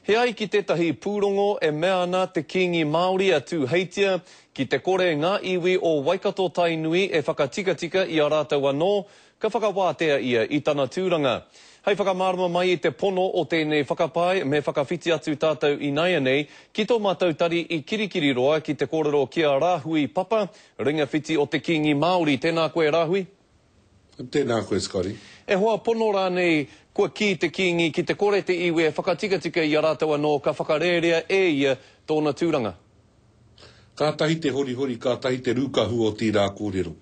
He ai ki tētahi pūrongo e mea ana te Kīngi Māori a Tūheitia, ki te kore ngā iwi o Waikato-Tainui e whakatikatika i a rātou anō, ka whakawātea ia i tana tūranga. Hei whakamārama mai i te pono o tēnei whakapae me whakawhiti atu tātou inaianei ki tō mātou tari i Kirikiriroa ki te kōrero ki a Rāhui Papa, Ringawhiti o te Kīngi Māori. Tēnā koe Rāhui. Tēnā koe, Scotty. E hoa pono rānei, kua kī te Kīngi ki te kore te iwi e whakatikatika i a rātou anō ka whakarērea e ia tōna tūranga. Kātahi te horihori, kātahi te rūkahu o tīrā kōrero.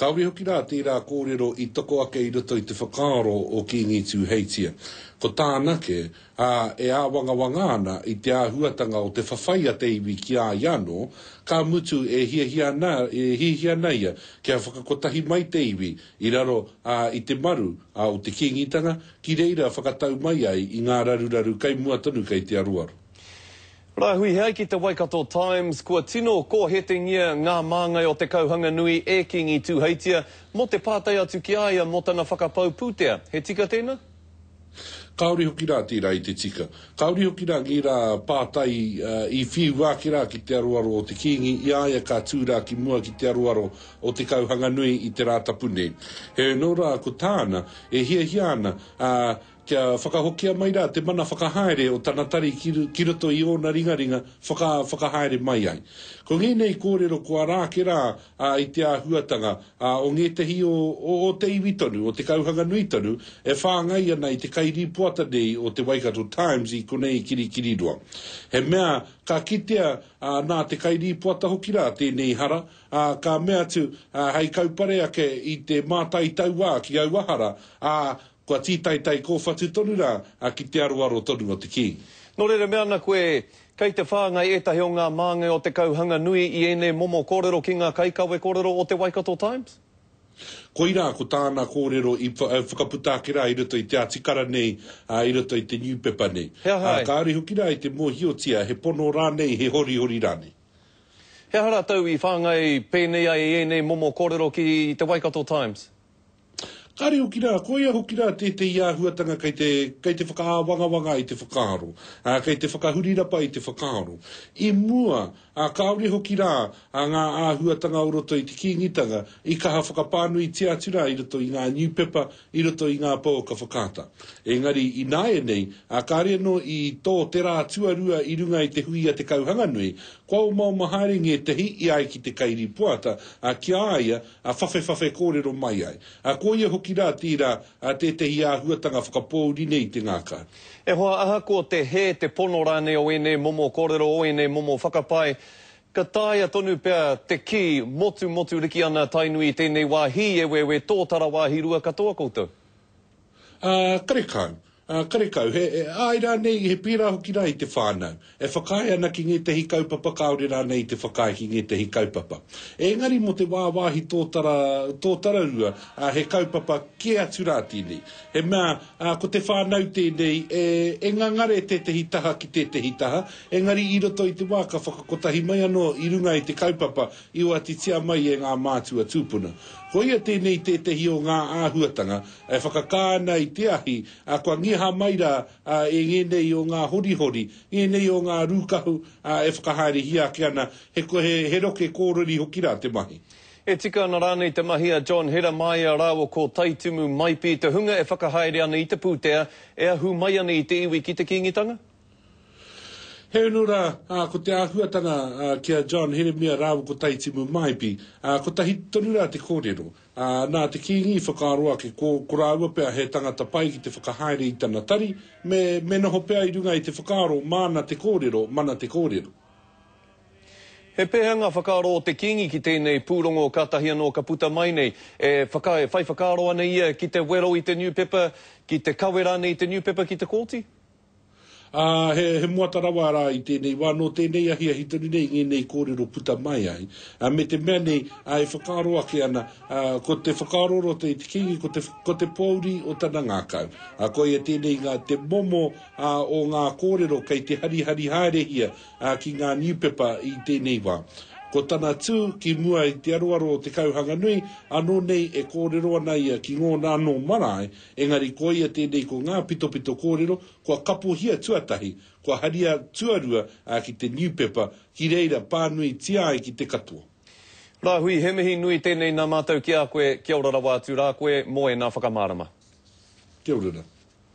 Kāore hoki rā tērā kōrero i toko ake i roto i te whakaaro o Kīngi Tūheitia. Ko tāna kē, ā, e āwangawanga ana i te āhuatanga o te whawhai a te iwi ki a ia anō, ka mutu e hiahia ana, e hiahia ana ia kia whakakotahi mai te iwi i raro, ā, i te maru, ā, o te Kīngitanga, ki reira whakatau mai ai i ngā raruraru kei mua tonu kei te aroaro. Rāhui ai ki te Waikato Times, kua tino kōhetengia ngā māngai o te kauhanga nui e Kīngi Tūheitia mō te pātai atu ki a ia mō tana whakapau pūtea. He tika tēnā? Kāore hoki rā tērā i te tika. Kāore hoki rā ngērā pātai i whiua ake rā ki te aroaro o te Kīngi i a ia ka tū rā ki mua ki te aroaro o Te Kauhanganui i te Rātapu nei. Heoi anō rā ko tāna e hiahia ana, ā, kia whakahokia mai rā te mana whakahaere o tana tari ki roto i ōna ringaringa whaka, whakahaere mai ai. Ko ngēnei kōrero kua rā ake rā ā, i te āhuatanga, ā, o ngētehi o, o, o te iwi tonu, o te kauhanga nui tonu, e whāngai ana i te kairīpoata nei o te Waikato Times i konei kirikiriroa. He mea ka kitea, ā, nā te kairīpoata hoki rā tēnei hara, ā, ka mea atu, ā, hei kaupare ake i te mātai tauā ki aua hara, ā, Kua tītaitai kōwhatu tonu rā, ā, ki te aroaro tonu o te Kīngi. Nō reira mea ana koe, Kei te whāngai ētahi o ngā māngai o te kauhanga nui i ēnei momo kōrero ki ngā kaikawe kōrero o te Waikato Times? Koirā, ko tāna kōrero i whakaputa ake rā i roto i te atikara nei, ā, i roto i te niupepa nei. He aha ai? Kāore hoki rā i te mōhiotia, he pono rānei, he horihori rānei. He aha rātou i whāngai pēnei ai i ēnei momo kōrero ki te Waikato Times? Kāre hoki rā, koia hoki rā tētehi āhuatanga kei te, kei te whakaāwangawanga i te whakaaro, ā, kei te whakahurirapa i te whakaaro. I mua, ā, kāore hoki rā, ā, ngā āhuatanga o roto i te Kīngitanga i kaha whakapānuitia atu rā i roto i ngā niupepa, i roto i ngā pouaka whakaata. Engari, ināianei, ā, kāre anō i tō te rā tuarua i runga i te hui a Te Kauhanganui, kua omaoma haere ngētehi i ai ki te kairīpoata, ā, ki a ia, a whawhewhawhe kōrero mai ai, a ko ia hoki rā tērā a tētehi āhuatanga whakapōuri nei i te ngākā. E hoa, ahakoa te hē, te pono rānei o ēnei momo kōrero, o ēnei momo whakapae, ka taea tonu pea te kī, motumotu riki ana Tainui i tēnei wā, hī, eweewe, tōtara wāhi rua katoa koutou. Ā, karekau. Ā, karekau, he, he āe rānei, he pērā hoki rā i te whānau, e whakaae ana ki ngētehi kaupapa kāore rānei i te whakaae ki ngētehi kaupapa. Engari mō te wāwāhi tōtara, tōtararua, ā, he kaupapa kē atu rā tēnei. He mea, ā, ko te whānau tēnei e, e ngangare tētehi taha ki tētehi taha, engari i roto i te wā ka whakakotahi mai anō i runga i te kaupapa i oatitia mai e ngā mātua tūpuna. Koia tēnei tētehi o ngā āhuatanga E whakakā ana i te ahi, ā, kua ngiha mai rā, ā, e ngēnei o ngā horihori, ngēnei o ngā rūkahu, ā, e whakahaerehia ake ana, he, he, he roke kōriri hoki rā te mahi. E tika ana rānei te mahi a John Heramaia rāua ko Taitumu Maipi, te hunga e whakahaere ana i te pūtea e ahu mai ana i te iwi ki te Kīngitanga? He unu rā, ā, ko te āhuatanga, ā, ki a John Heremia rāua ko Taitimu Maipi, ā, kotahi tonu rā te kōrero. Ā, nā te kīngi i whakaaro ake, ko, ko rāua pea he tangata pai ki te whakahaere i tana tari, me, me noho pea i runga i te whakaaro, māna te kōrero, mana te kōrero. He pēhea ngā whakaaro o te kīngi ki tēnei pūrongo kātahi anō ka puta mai nei? E whaka, e whai whakaaro ana ia ki te wero i te niupepa, ki te kawe rānei i te niupepa ki te kōti? Ā, he, he moata rawa rā i tēnei wā, nō tēnei ahiahi tonu nei i ngēnei kōrero puta mai ai, ā, me te mea nei, ā, e whakaaro ake ana, ā, ko te whakaaro roto i te Kīngi, ko te, ko te pōuri o tana ngākau. Ā, koia tēnei ngā, te momo, ā, o ngā kōrero kei te harihari haerehia, ā, ki ngā niupepa i tēnei wā. Ko tana tū ki mua i te aroaro o te kauhanga nui, ānō nei e kōrero ana ia ki ngōna anō marae Engari koia tēnei ko ngā pitopito kōrero kua kapohia tuatahi, kua haria tuarua ā ki te niupepa, ki reira pānuitia ai ki te katoa. Rāhui, he mihi nui tēnei nā mātou ki a koe, kia ora rawa atu rā koe mō ēnā whakamārama. Kia ora rā.